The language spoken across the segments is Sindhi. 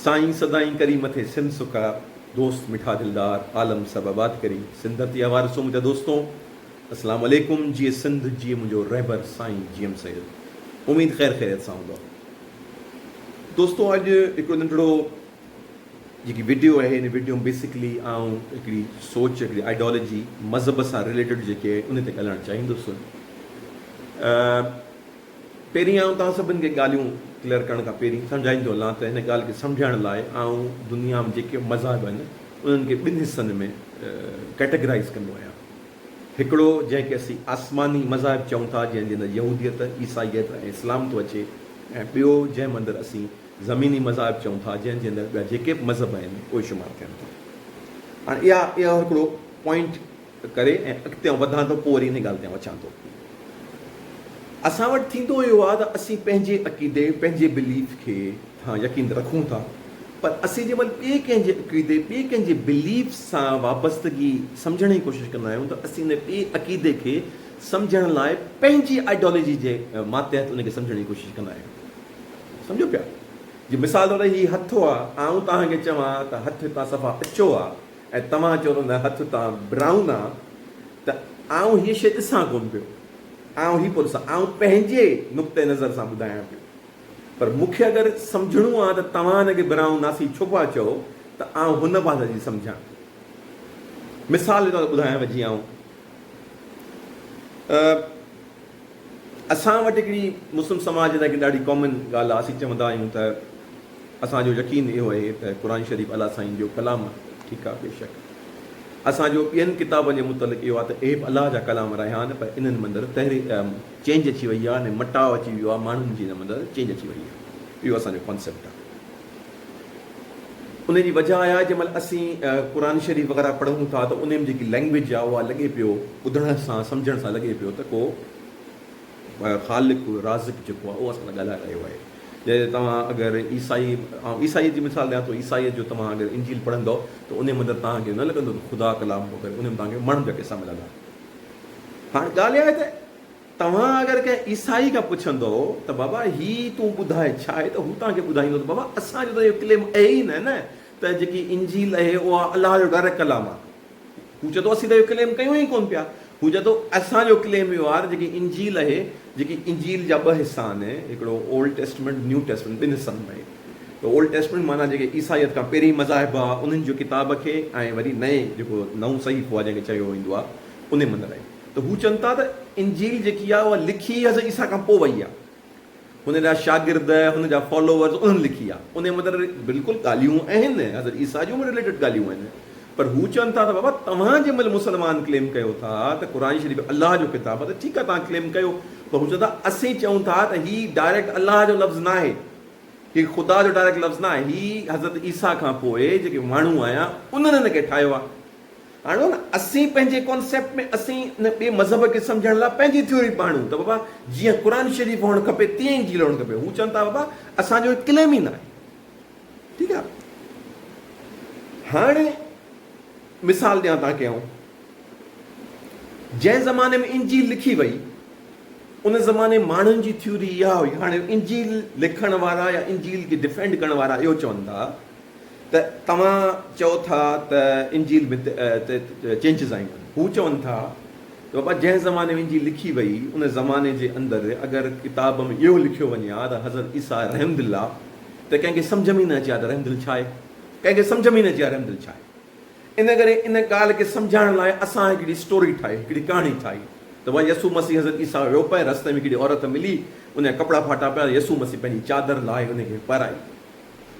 سائين سدائين ڪري مٿي سنڌ سکا دوست مٺا دلدار عالم سڀ آباد ڪري سنڌ ڌرتي آ وارثو منهنجا دوستو اسلام عليڪم جيئي سنڌ جيئي منهنجو رهبر سائين جي ايم سيد اميد خير خيريت سان هوندؤ دوستو اڄ هڪڙو ننڍڙو جيڪي ويڊيو آهي ان ويڊيو ۾ بيسڪلي آئون هڪڙي سوچ هڪڙي آئيڊالجي مذهب سان ريليٽيڊ جيڪي ان تي ڳالهائڻ چاهيندس پهرين آئون توهان سڀن کي ڳالهيون ڪليئر ڪرڻ کان پهرين سمجهائيندو هلان ته هن ڳالهه کي سمجهڻ لاء آئون دنيا ۾ جيڪي مذاهب آهن انهن کي ٻن حصن ۾ ڪيٽيگرائيز ڪندو آهيان. هڪڙو جنهن کي اسين آسماني مذاهب چئون ٿا جنهن جي اندر يهوديت، عيسائيت ۽ اسلام ٿو اچي ۽ ٻيو جنهن اندر اسين زميني مذاهب چئون ٿا جنهن جي اندر ٻيا جيڪي به مذهب آهن اهي شمار ٿين ٿا. هاڻ اها اهو هڪڙو پوائنٽ. ڪري ۽ اڳتي آئون وڌان ٿو پوء وري انهي ڳالهه تي آئون اچان ٿو. اسان وٽ ٿيندو اهو آهي ته اسين پنهنجي عقيدي، پنهنجي Belief، کي تان يقين رکون ٿا پر اسين جنهن مهل ٻئي ڪنهن جي عقيدي، ٻئي ڪنهن جي Belief، سان وابستگي سمجهڻ جي ڪوشش ڪندا آهيون ته اسين انهي ٻئي عقيدي کي سمجهڻ لاء پنهنجي Ideology جي ماتحت انهي کي سمجهڻ جي ڪوشش ڪندا آهيون. سمجهو پيا؟ جي مثال طور هي هٿ آهي، آئون توهان کي چوان ته هٿ هتان صفا اچو آهي، ۽ توهان چون نه هٿ تان براؤن آ ته آئون هيء شيء ڏسان ڪونه پيو. آئون هي پيو ڏسان. آئون پنهنجي نقطه نظر سان ٻڌايان پيو. پر مون کي اگر سمجهڻو آ ته توهان هن کي براؤن ناسي ڇو پيا چئو ته آئون هن پاسي جي سمجهان. مثال جي طور ٻڌايانو جيئن آئون. اسان وٽ هڪڙي مسلم سماج لاء هڪڙي ڏاڍي ڪامن ڳالهه آهي اسين چوندا آهيون ته اسان جو يقين اهو اهي ته قرآن شريف الله سائين جو ڪلام آهي ٺيڪ آهي بيشڪ اسان جو ٻين ڪتابن جي متعلق اهو آهي ته اهي به الله جا ڪلام رهيا آهن پر انهن مندر تحرير چينج اچي وئي آهي مٽاء اچي ويو آهي ماڻهن جي ان مندر چينج اچي وئي آهي اهو اسان جو ڪانسيپٽ آهي. ان جي وجه آهي جنهن مهل اسين قرآن شريف وغيره پڙهون ٿا ته انهيء ۾ جيڪي لئنگويج آهي اها لڳي پيو ٻڌڻ سان سمجهڻ سان لڳي پيو ته ڪو خالق رازق جيڪو آهي اهو اسان سان ڳالهائي رهيو آهي جي توهان اگر عيسائي آئون عيسائيت جي مثال ڏيان ٿو عيسائيت جو توهان اگر انجيل پڙهندؤ ته انهيء ۾ اندر توهان کي نه لڳندو ته خدا ڪلام پيو ڪري انهيء ۾ توهان کي ماڻهن جا قصا ملندا هاڻ ڳالهه اها آهي ته توهان اگر ڪنهن عيسائي کان پڇندؤ ته بابا هي تون ٻڌاء ڇا آهي ته هو توهان کي ٻڌائيندو ته بابا اسان جو ته اهو ڪليم اهي ئي نه نه ته جيڪي انجيل اهي اها الله جو ڊائريڪٽ ڪلام آهي هو چئي ٿو اسين ته اهو ڪليم ڪيون ئي ڪونه پيا هو چئي ٿو اسان جو ڪليم اهو آهي ته جيڪي انجيل اهي جيڪي انجيل جا ٻه حصا آهن هڪڙو اولڊ ٽيسٽمينٽ نيو ٽيسٽمينٽ ٻن حصن ۾ ته اولڊ ٽيسٽمينٽ معنيٰ جيڪي عيسائيت کان پهرين مذاهب هئا انهن جو ڪتاب کي ۽ وري نئين جيڪو نئون صحيفو آهي جنهن کي چيو ويندو آهي انهي مندر ۽ ته هو چون ٿا ته انجيل جيڪي آهي اها لکي حضرت عيسيٰ کان پوء وئي آهي. هن جا شاگرد، هن جا فالوورز انهن لکي آهي. انهي مطلب بلڪل ڳالهيون آهن، حضرت عيسيٰ جون به رليٽيڊ ڳالهيون آهن. پر هو چون ٿا ته بابا توهان جنهن مهل مسلمان ڪليم ڪيو ٿا ته قرآن شريف الله جو ڪتاب آهي ته ٺيڪ آهي توهان ڪليم ڪيو پر هو چون ٿا اسين چئون ٿا ته هي ڊائريڪٽ الله جو لفظ ناهي. هي خدا جو ڊائريڪٽ لفظ ناهي. هي حضرت عيسيٰ کان پوء جيڪي ماڻهو آيا انهن هن کي ٺاهيو آهي. هاڻ هو نه اسين پنهنجي ڪانسيپٽ ۾ اسين نه ٻئي مذهب کي سمجهڻ لاء پنهنجي ٿيوري پئي آڻيون ته بابا جيئن قرآن شريف هئڻ کپي تيئن انجيل هئڻ کپي هو چون ٿا بابا اسان جو هي ڪليم ئي ناهي ٺيڪ آهي هاڻي مثال ڏيان تان کي آئون جنهن زماني ۾ انجيل لکي وئي ان زماني ماڻهن جي ٿيوري اها هئي هاڻي انجيل لکڻ وارا يا انجيل کي ڊفينڊ ڪرڻ وارا اهو چون ٿا ته توهان چئو ٿا ته انجيل ۾ ته چينجز آيون آهن. هو چون ٿا ته بابا جنهن زماني ۾ انجيل لکي وئي ان زماني جي اندر اگر ڪتاب ۾ اهو لکيو وڃي ها ته حضرت عيسيٰ رحمدل آ ته ڪنهن کي سمجهه ۾ ئي نه اچي ها ته رحمدل ڇا آهي. ڪنهن کي سمجهه ۾ ئي نه اچي ها رحمدل ڇا آهي. ان ڪري ان ڳالهه کي سمجهائڻ لاء اسان هڪڙي اسٽوري ٺاهي، هڪڙي ڪهاڻي ٺاهي ته بابا يسوع مسيح حضرت عيسيٰ ويو پئي رستي ۾ هڪڙي عورت ملي ان جا ڪپڙا ڦاٽا پيا ته يسوع مسيح پنهنجي چادر لاهي ان کي پهرائي.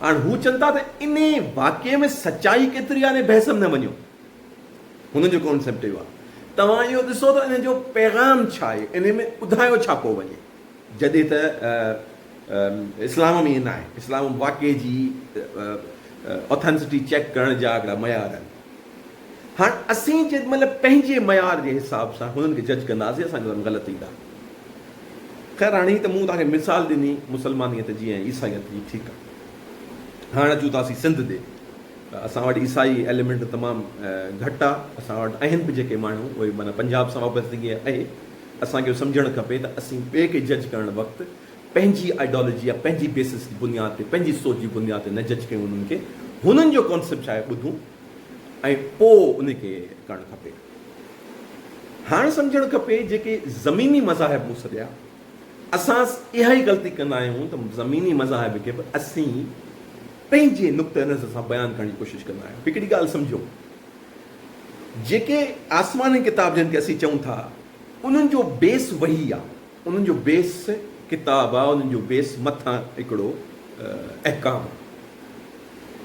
هاڻ هو چون ٿا ته انهي واقعي ۾ سچائي ڪيتري آهي انهي بحث ۾ نه وڃو هنن جو ڪانسيپٽ اهو آهي توهان اهو ڏسو ته انهي جو پيغام ڇا آهي انهي ۾ ٻڌايو ڇا پيو وڃي جڏهن ته اسلام ۾ ائين نه آهي اسلام واقعي جي اوٿينسٽي چيڪ ڪرڻ جا هڪڙا معيار آهن. هاڻ اسين جيڏي مهل پنهنجي معيار جي حساب سان هنن کي جج ڪنداسين اسان جو ڪم غلط ايندا. خير هاڻ هي ته مون توهان کي مثال ڏني مسلمانيت جي ۽ عيسائيت جي ٺيڪ آهي. هاڻ اچون ٿا اسين سنڌ ڏي ته اسان وٽ عيسائي ايليمنٽ تمام گهٽ آهي اسان وٽ اهن به جيڪي ماڻهو اهي معنيٰ پنجاب سان وابستگي اهي. اسان کي اهو سمجهڻ کپي ته اسين ٻئي کي جج ڪرڻ وقت پنهنجي آئيڊيالوجي يا پنهنجي بيسس جي بنياد تي پنهنجي سوچ جي بنياد تي نه جج ڪيون هنن کي هنن جو ڪانسيپٽ ڇا آهي ٻڌون. ۽ پوء ان کي ڪرڻ کپي. هاڻ سمجهڻ کپي جيڪي زميني مذاهب مون سڏيا، اسان اها ئي غلطي ڪندا آهيون ته زميني مذاهب کي به اسين پنهنجي نقطه نظر سان بيان ڪرڻ جي ڪوشش ڪندا آهيون. هڪڙي ڳالهه سمجهو، جيڪي آسماني ڪتاب جن کي اسين چئون ٿا، انهن جو بيس وحي آهي. انهن جو بيس ڪتاب آ انهن جو بيس مٿان هڪڙو احڪام آ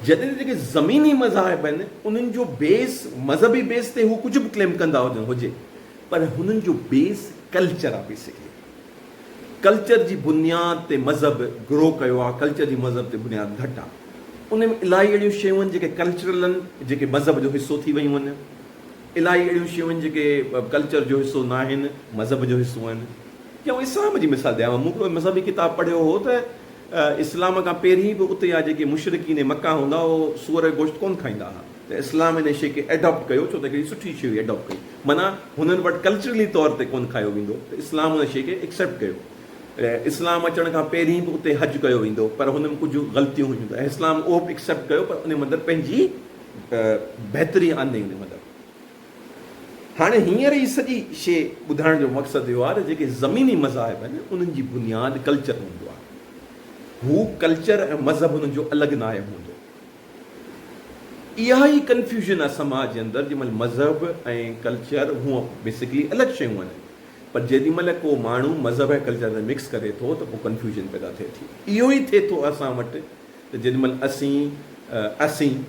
جڏهن ته جيڪي زميني مذاهب آهن انهن جو بيس مذهبي بيس تي هو ڪجهه به ڪليم ڪندا هجن هجي پر هنن جو بيس ڪلچر آ بيسڪلي ڪلچر جي بنياد تي مذهب گرو ڪيو آ ڪلچر جي مذهب تي بنياد گهٽ آ انهن ۾ الاهي اهڙيون شيون آهن جيڪي ڪلچرل آهن جيڪي مذهب جو حصو ٿي ويون آهن. الائي اهڙيون شيون آهن جيڪي ڪلچر جو حصو ناهن مذهب جو حصو آهن جي آئون اسلام جي مثال ڏيانو مون هڪڙو مذهبي ڪتاب پڙهيو هو ته اسلام کان پهرين به اتي جا جيڪي مشرڪين مڪه هوندا هئا اهي سوئر جو گوشت ڪونه کائيندا هئا ته اسلام ان شي کي ايڊاپٽ ڪيو ڇو ته ڪهڙي سٺي شي هئي ايڊاپٽ ڪئي معنيٰ هنن وٽ ڪلچرلي طور تي ڪونه کايو ويندو ته اسلام ان شي کي ايڪسيپٽ ڪيو اسلام اچڻ کان پهرين به اتي حج ڪيو ويندو پر هن ۾ ڪجهه غلطيون هيون ته اسلام اهو به ايڪسيپٽ ڪيو پر ان مندر پنهنجي ته بهتري آندي هوندي مگر هاڻي هينئر هي سڄي شي ٻڌائڻ جو مقصد اهو آهي ته جيڪي زميني مذاهب آهن انهن جي بنياد ڪلچر هوندو آهي هو ڪلچر ۽ مذهب انهن جو الڳ ناهي هوندو اها ئي ڪنفيوزن آهي سماج جي اندر جنهن مهل مذهب ۽ ڪلچر هونئن بيسڪلي الڳ شيون آهن پر جيڏي مهل ڪو ماڻهو مذهب ۽ ڪلچر ۾ مڪس ڪري ٿو ته پوء ڪنفيوزن پيدا ٿئي ٿي اهو ئي ٿئي ٿو اسان وٽ ته جيڏي مھل اسين، اسين،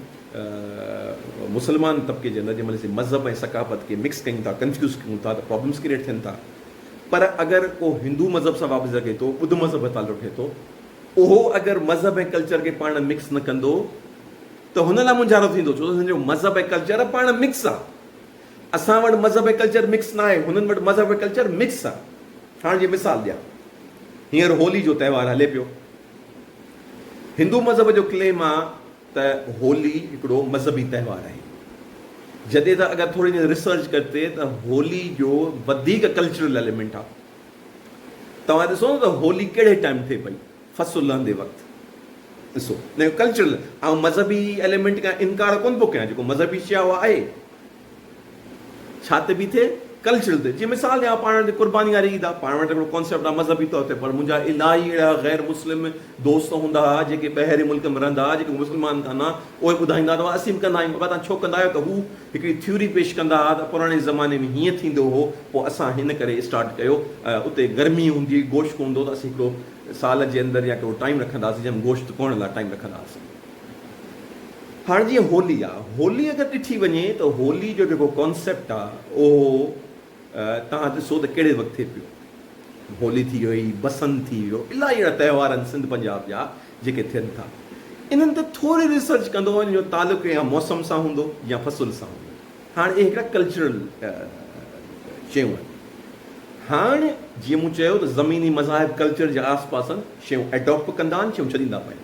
مسلمان طبقي جي اندر جيڏي مھل اسين مذھب ۽ ثقافت کي مڪس ڪيون ٿا، ڪنفيوز ڪيون ٿا ته پرابلمز ڪريئيٽ ٿين ٿا. پر اگر ڪو ھندو مذھب سان وابسته رھي ٿو، ٻڌ مذھب ۾ تعلق رھي ٿو، اھو اگر مذھب ۽ ڪلچر کي پاڻ ۾ مڪس نه ڪندو ته ھن لاء مونجھارو ٿيندو ڇو ته ھن جو مذھب ۽ ڪلچر پاڻ ۾ مڪس آ. اسان وٽ مذھب ۽ ڪلچر مڪس ناھي، ھنن وٽ مذھب ۽ ڪلچر مڪس آ. ھاڻ جي مثال ڏيان، ھينئر ھولي جو تھوار ھلي پيو، هندو مذهب جو ڪليم آ ته هولي هڪڙو مذهبي تهوار آهي جڏهن ته اگر ٿوري جي ريسرچ ڪرتي ته هولي جو وڌيڪ ڪلچرل ايليمينٽ آ توهان ڏسو نه ته هولي ڪهڙي ٽائيم ٿئي پئي فصل لهندي وقت ڏسو نه ڪلچرل آئون مذهبي ايليمينٽ کان انڪار ڪونه ٿو ڪيان جيڪو مذهبي شي آ اها آهي ڇا تي بيٺي ڪلچڙ تي جي مثال ڏيان پاڻ وٽ قرباني واري عيد آ پاڻ وٽ هڪڙو ڪانسيپٽ آ مذهبي طور تي پر منهنجا الاهي اهڙا غير مسلم دوست هوندا ها جيڪي ٻهرين ملڪ ۾ رهندا ها جيڪي مسلمان ڪانه ها اهي ٻڌائيندا ته اسين به ڪندا آهيون اگر توهان ڇو ڪندا آهيو ته هو هڪڙي ٿيوري پيش ڪندا ها ته پراڻي زماني ۾ هيئن ٿيندو هو پوء اسان هن ڪري اسٽارٽ ڪيو اتي گرمي هوندي هئي گوشت ڪونه هوندو هو ته اسين هڪڙو سال جي اندر يا هڪڙو ٽائيم رکندا هئاسين جنهن ۾ گوشت ڪوڻ لا ٽائيم رکندا هئاسين. هاڻ جيئن هولي آ هولي اگر ڏٺي وڃي ته هولي جو جيڪو ڪانسيپٽ آ اهو توهان ڏسو ته ڪهڙي وقت ٿئي پيو هولي ٿي وئي بسنت ٿي ويو الاهي اهڙا تهوار آهن سنڌ پنجاب جا جيڪي ٿين ٿا انهن تي ٿوري ريسرچ ڪندو وڃ جو تعلق يا موسم سان هوندو يا فصل سان هوندو هاڻ اهي هڪڙا ڪلچرل شيون آهن هاڻ جيئن مون چيو ته زميني مذاهب ڪلچر جي آس پاس شيون اڊاپٽ ڪندا آهن شيون ڇڏيندا پيا آهن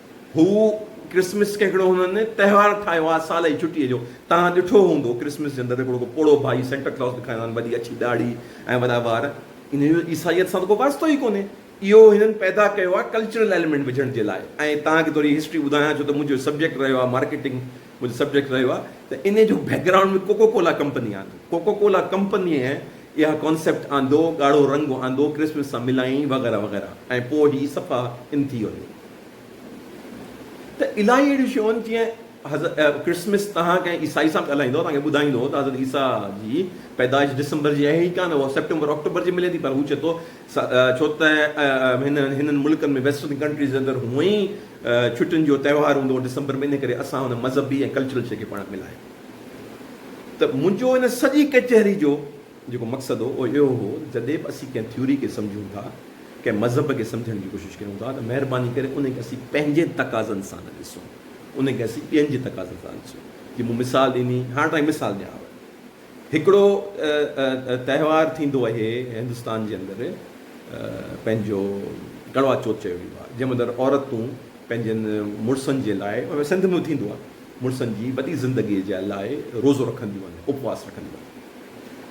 هو ڪرسمس کي هڪڙو هنن تهوار ٺاهيو آهي سال جي ڇٽي جو. توهان ڏٺو هوندو ڪرسمس جي اندر ته هڪڙو ڪو پوڙهو ڀائي سينٽا ڪلاز ڏيکاريندا آهن وڏي اڇي ڏاڙهي ۽ وڏا وار. انهيء جو عيسائيت سان ته ڪو واسطو ئي ڪونهي. اهو هنن پيدا ڪيو آهي ڪلچرل ايلمينٽ وجهڻ جي لاء ۽ توهان کي ٿوري هسٽري ٻڌايان ڇو ته منهنجو سبجيڪٽ رهيو آهي مارڪيٽنگ منهنجو سبجيڪٽ رهيو آهي ته انهيء جو background ۾ Coca Cola company آندي. ڪوڪو ڪولا ڪمپنيء اها ڪانسيپٽ آندو، ڳاڙهو رنگ آندو ڪرسمس سان ملائين وغيره وغيره ۽ پوء هي صفا ان ٿي ويو. ته الائي اهڙيون شيون جيئن حضرت ڪرسمس تهان ڪنهن عيسائي سان ڳالهائيندو توهان کي ٻڌائيندو ته حضرت عيسيٰ جي پيدائش ڊسمبر جي اهي ئي ڪانه اها سيپٽمبر آڪٽوبر جي ملي ٿي پر هو چئي ٿو ڇو ته هن هنن ملڪن ۾ ويسٽرن ڪنٽريز جي اندر هونئن ئي ڇٽين جو تهوار هوندو هو ڊسمبر ۾ ان ڪري اسان هن مذهبي ۽ ڪلچرل شي کي پاڻ ملائي ته منهنجو ان سڄي ڪچهري جو جيڪو مقصد هو اهو اهو هو ته جڏهن به اسين ڪنهن ٿيوري کي سمجهون ٿا، ڪنهن مذهب کي سمجهڻ جي ڪوشش ڪريون ٿا ته مهرباني ڪري ان کي اسين پنهنجي تقاضن سان نه ڏسون، ان کي اسين ٻين جي تقاضن سان ڏسون. جي مون مثال ڏني، هاڻ توهان کي مثال ڏيانو. هڪڙو تهوار ٿيندو اهي هندستان جي اندر پنهنجو ڪڙوا چوٿ چيو ويندو آهي، جنهن اندر عورتون پنهنجن مڙسن جي لاء سنڌ ۾ به ٿيندو آهي مڙسن جي وڏي زندگيء جي لاء روزو رکنديون آهن، اپواس رکنديون آهن.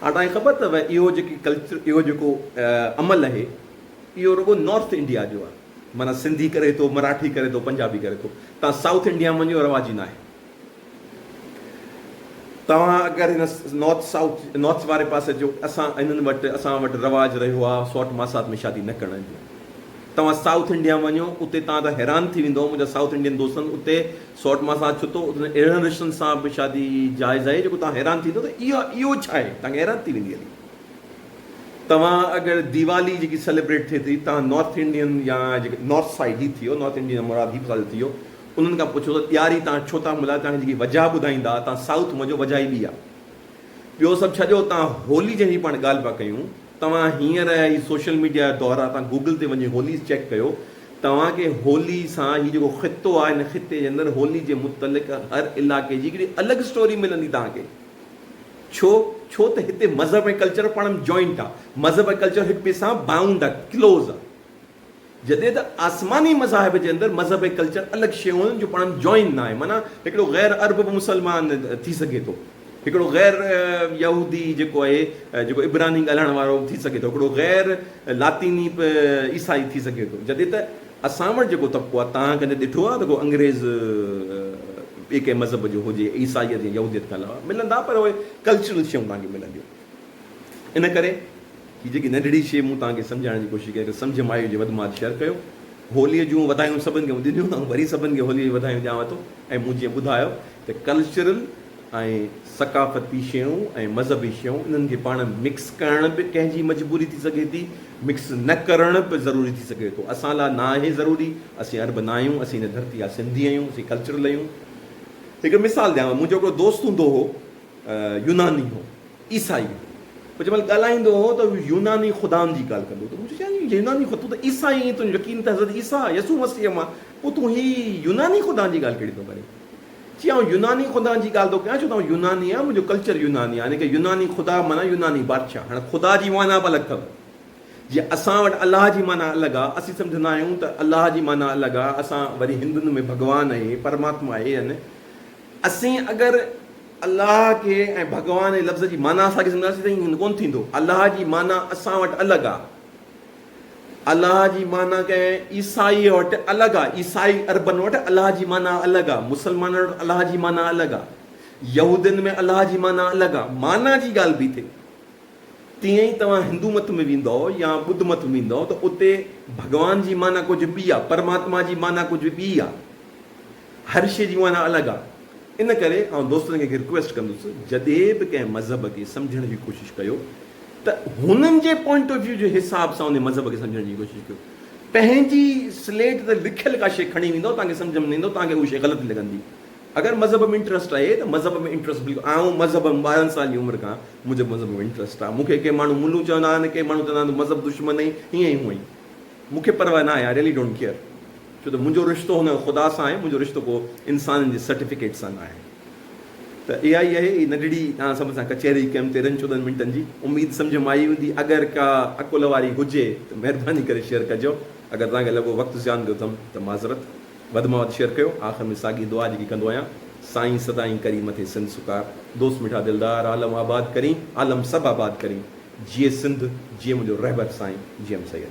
هاڻ توهان کي خبر اٿو ته اهو جيڪي ڪلچر اهو جيڪو عمل اهي اهو رڳو نارٿ انڊيا جو آهي معنيٰ سنڌي ڪري ٿو، مراٺي ڪري ٿو، پنجابي ڪري ٿو توهان سائوٿ انڊيا ۾ وڃو رواجي ناهي. توهان اگر هن نارٿ سائوٿ نارٿ واري پاسي جو اسان هنن وٽ اسان وٽ رواج رهيو آهي سوٽ ماسات ۾ شادي نه ڪرڻ جو توهان سائوٿ انڊيا ۾ وڃو اتي توهان ته حيران ٿي ويندؤ منهنجا سائوٿ انڊين دوستن اتي سؤٽ مان سان ڇتو اٿن اهڙن رشتن سان به شادي جائز آهي جيڪو توهان حيران ٿيندو ته اها اهو ڇا آهي توهان کي حيران ٿي ويندي هلي توهان اگر ديوالي جيڪي سيليبريٽ ٿئي ٿي توهان نارٿ انڊين يا جيڪي نارٿ سائيڊ هي ٿيو نارٿ انڊين جا مراد هي ساجو ٿيو انهن کان پڇو ته ڏياري توهان ڇو ٿا ملهايو توهان کي جيڪي وجهه ٻڌائيندا توهان سائوٿ مزو وجهه ئي ٻي آهي ٻيو سڀ ڇڏيو اتان هولي جنهن جي پاڻ ڳالهه پيا ڪيون توهان هينئر هي سوشل ميڊيا جا دور آ توهان گوگل تي وڃي هوليز چيڪ ڪيو توهان کي هولي سان هي جيڪو خطو آ هن خطي جي اندر هولي جي متعلق هر علائقي جي هڪڙي الڳ اسٽوري ملندي توهان کي ڇو ڇو ته هتي مذهب ۽ ڪلچر پاڻ م جوائنٽ آ مذهب ۽ ڪلچر هڪ ٻئي سان بائونڊ آ ڪلوز آ. جڏهن ته آسماني مذاهب جي اندر مذهب ۽ ڪلچر الڳ شيون جو پاڻ جوائن ناهي معنيٰ هڪڙو غير عرب به مسلمان ٿي سگهي ٿو هڪڙو غير يهودي جيڪو آهي جيڪو عبراني ڳالهائڻ وارو ٿي سگهي ٿو هڪڙو غير لاطيني به عيسائي ٿي سگهي ٿو جڏهن ته اسان وٽ جيڪو طبقو آهي تان ڪڏهن ڏٺو آهي ته ڪو انگريز ٻي ڪنهن مذهب جو هجي عيسائيت يا يهوديت کان علاوه ملندا پر اهي ڪلچرل شيون تان کي ملنديون. ان ڪري هي جيڪي ننڍڙي شيء مون توهان کي سمجهائڻ جي ڪوشش ڪئي، سمجهه مايو جي وڌ ماڌ شيئر ڪيو. هوليء جون وڌايون سڀن کي مون ڏنيون ته آئون وري سڀن کي هوليء جون وڌايون ڏيانو ٿو ۽ مون جيئن ٻڌايو ته ڪلچرل ۽ ثقافتي شيون ۽ مذهبي شيون انهن کي پاڻ ۾ مڪس ڪرڻ به ڪنهن جي مجبوري ٿي سگهي ٿي، مڪس نه ڪرڻ به ضروري ٿي سگهي ٿو. اسان لاء ناهي ضروري، اسين عرب ناهيون، اسين هن ڌرتي جا سنڌي آهيون، اسين ڪلچرل آهيون. هڪ مثال ڏيانو، منهنجو هڪڙو دوست هوندو هو، يوناني هو. عيسائي، پوء جنهن مهل ڳالهائيندو هو ته يوناني خدائن جي ڳالهه ڪندو هو ته مون چيو چيائين يوناني خدا، تون ته عيسائي آهين، تنهنجو يقين ته حضرت عيسيٰ، يسوع مسيح مان، پوء تون هي يوناني خدائن جي ڳالهه ڪهڙي ٿو ڪرين؟ چيائين آئون يوناني خدائن جي ڳالهه ٿو ڪيان ڇو ته آئون يوناني آهيان، منهنجو ڪلچر يوناني آهي، حالانڪه يوناني خدا معنيٰ يوناني بادشاهه، هاڻ خدا جي معنيٰ به الڳ اٿو، جيئن اسان وٽ الله جي معنيٰ الڳ آهي، اسين سمجهندا آهيون ته الله جي معنيٰ الڳ آهي، اسان وري هندن ۾ ڀڳوان اهي، پرماتما اهي آهن، اسين اگر. الله کي ۽ ڀڳوان جي لفظ جي معنيٰ اسان کي سمجهنداسين ته ائين ڪونه ٿيندو. الله جي معنيٰ اسان وٽ الڳ آهي. الله جي معنيٰ ڪنهن عيسائيء وٽ الڳ آهي. عيسائي عربن وٽ الله جي معنيٰ الڳ آهي. مسلمانن وٽ الله جي معنيٰ الڳ آهي. يهودين ۾ الله جي معنيٰ الڳ آهي. معنيٰ جي ڳالهه بيٺي. تيئن ئي توهان هندو مت ۾ ويندؤ يا ٻڌ مت ۾ ويندؤ ته اتي ڀڳوان جي معنيٰ ڪجهه ٻي آهي. پرماتما جي معنيٰ ڪجهه ٻي آهي. هر شيء جي معنيٰ الڳ آ ان ڪري آئون دوستن کي هڪ رڪويسٽ ڪندس جڏهن به ڪنهن مذهب کي سمجهڻ جي ڪوشش ڪيو ته هنن جي پوائنٽ آف ويو جي حساب سان ان مذهب کي سمجهڻ جي ڪوشش ڪيو پنهنجي سليٽ تي لکيل ڪا شيء کڻي ويندو توهان کي سمجهه ۾ نه ايندو توهان کي اهو شيء غلط لڳندي اگر مذهب ۾ انٽرسٽ آهي ته مذهب ۾ انٽرسٽ بلڪل آئون مذهب ۾ ٻارهن سالن جي عمر کان منهنجو مذهب ۾ انٽرسٽ آ مون کي ڪي ماڻهو ملون چوندا آهن ڪي ماڻهو چوندا آهن تو مذهب دشمن آهين هيئن هونئن مون کي پرواهه ناهي I really don't care ڇو ته منهنجو رشتو هن خدا سان آهي منهنجو رشتو ڪو انسانن جي سرٽيفڪيٽ سان ناهي ته اها ئي اهي نڍڙي ڏانهن سڀن سان ڪچهري ڪيم تيرهن چوڏهن منٽن جي اميد سمجهه مان آئي هوندي اگر ڪا عقل واري هجي ته مهرباني ڪري شيئر ڪجو اگر توهان کي لڳو وقت زيان ڏيو ٿم ته معذرت. وڌ مان وڌ شيئر ڪيو آخر ۾ ساڳي دعا جيڪي ڪندو آهيان سائين سدائين ڪري مٿي سنڌ سڪار دوست مٺا دلدار عالم آباد ڪرين عالم سڀ آباد ڪرين جيئي سنڌ جيئي منهنجو رهبر سائين جي ايم سيد.